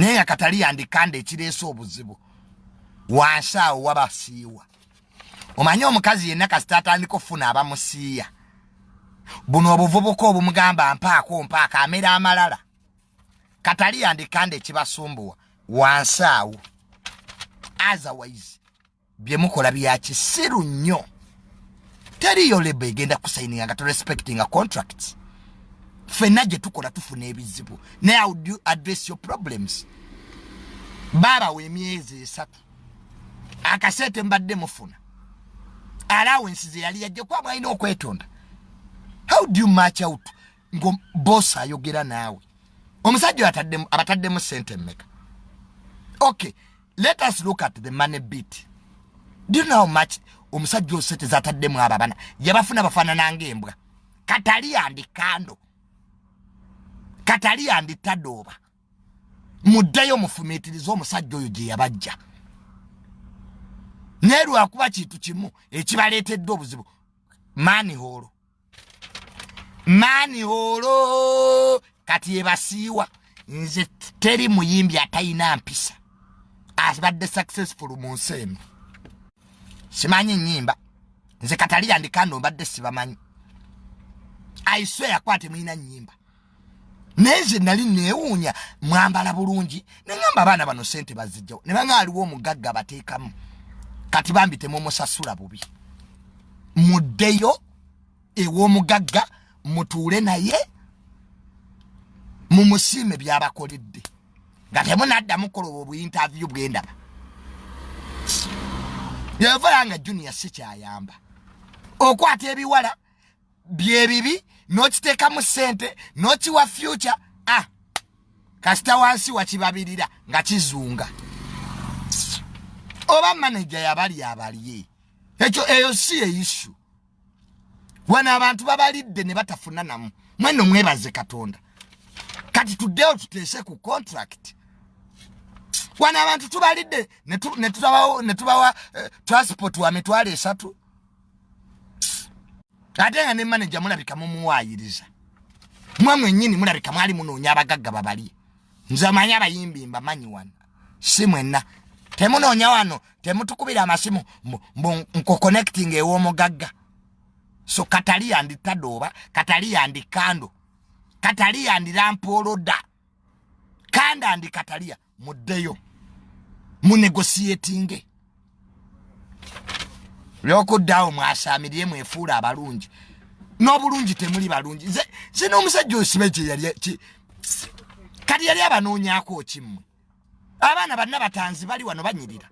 naye nga katali yandikanda ekireese obuzibu wansi awo wabasiiwa omanyi omukazi yenna kasita atandika okufuna abamusiiya buno obuvubuka obumugamba mpaako mpaako amera amalala katali yandikanda ekibasumbuwa wansi awo otherwise byemukola bya kisiru nnyo teriyo lebo egenda kusaininga nga torespectinga contracts fenna gye tukola tufuna ebizibu naye how do you address your problems baabawa emyezi esatu akasente mbadde mufuna alawensi ze yali yajja kuba mwalina okwetonda how do you match out ngo boss ayogera naawe omusajja ataddemu abataddemu sente mmeka okay let us look at the money bit do you know how much omusajja osente zataddemu abo abana yabafuna bafaanana ngaembwa katali andi kando katali andi tadooba muddeyo mufumiitirize omusajja oyo gye yabajja naye lwakuba kintu kimu ekibaleetedde obuzibu maani hoolo maani holo kati ebasiiwa nze teri muyimbi atalina mpisa abadde successful mu nsi eno simanyi nyimba nze katali yandikando mbadde sibamanyi aiswe yakwate mulina nyimba naye nze nali neewuunya mwambala bulungi neŋamba abaana bano sente bazijjawo ne banga aliwo omugagga bateekamu kati bambi temumusasula bubi muddeyo ew'omugagga mutuule naye mumusiime byabakoledde nga temunaddamu koloba obuinterview bwendaba yevula nga junior sikyayamba okwata ebiwala byebibi nokiteekamu sente nokiwa future a ah, kasita wansi wakibabirira nga kizunga oba maneja yabali abalye ekyo eyo si eyisu wano abantu babalidde ne batafuna namu mweno mwebaze katonda kati tuddewo tuteese ku contract wano abantu tubalidde netubawa eh, transport wa mitwalo esatu ate nga ne manaja mulabika mumuwayiriza mwe mwenyini mulabika mwali munoonya abagagga babalye nze manyi abayimbi mbamanyi wano si mwenna temunoonya wano temutukubira amasimu mbu nkuconnecting ew'omugagga so katali yanditadooba katali yandikando katali yandirampooloda kanda ndi katalia muddeyo munegosiatinge lyokuddaawo mwasamirire mwefuula abalungi n'obulungi temuli balungi nze n'omusajja osibe gyeyali kati yali abanoonyako kimmwe abaana banna batanzi bali wano banyirira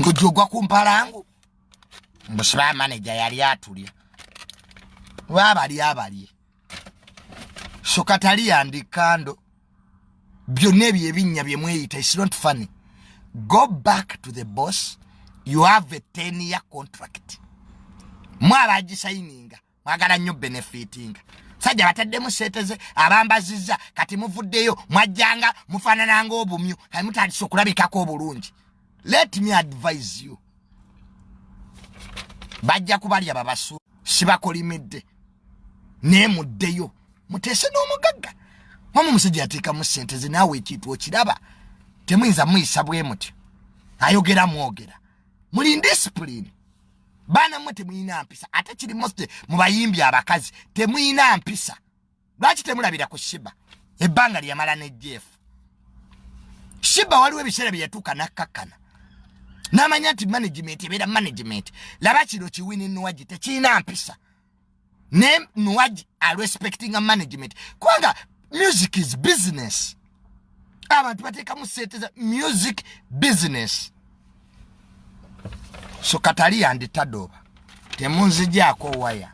ngojja ogwa ku mpalangu mbusiba manager yali atulya lwabalya abalye so katali yandi kando byonna ebyo ebinnya bye mweyita is not funny go back to the boss you have a ten year contract mwabagisayininga mwagala nnyo benefitinga sajja bataddemu seeteze abambazizza kati muvuddeyo mwajjanga mufaanana ngaobumyu kati mutandisa okulabikako obulungi let me advise you bajja kubalya babasu sibakolimidde naye muddeyo muteese n'omugagga mwamu omusajja yateekamu sente ze naawe ekintu okiraba temuyinza muyisa bwe mutyo ayogera mwogera muli indisipulini baana mmwe temuyina mpisa ate kiri moste mu bayimbi abakazi temuyina mpisa lwaki temulabira ku shiba ebbanga lyeyamala ne jeff shiba waliwo ebiseera bye yatuuka nakkakkana n'amanya nti management ebeera management laba kino kiwini nuwagi tekirina mpisa ne nuwaji arespectinga management kubanga music is business abantu bateekamu sente za music business so katali yanditadooba temunzijaako waya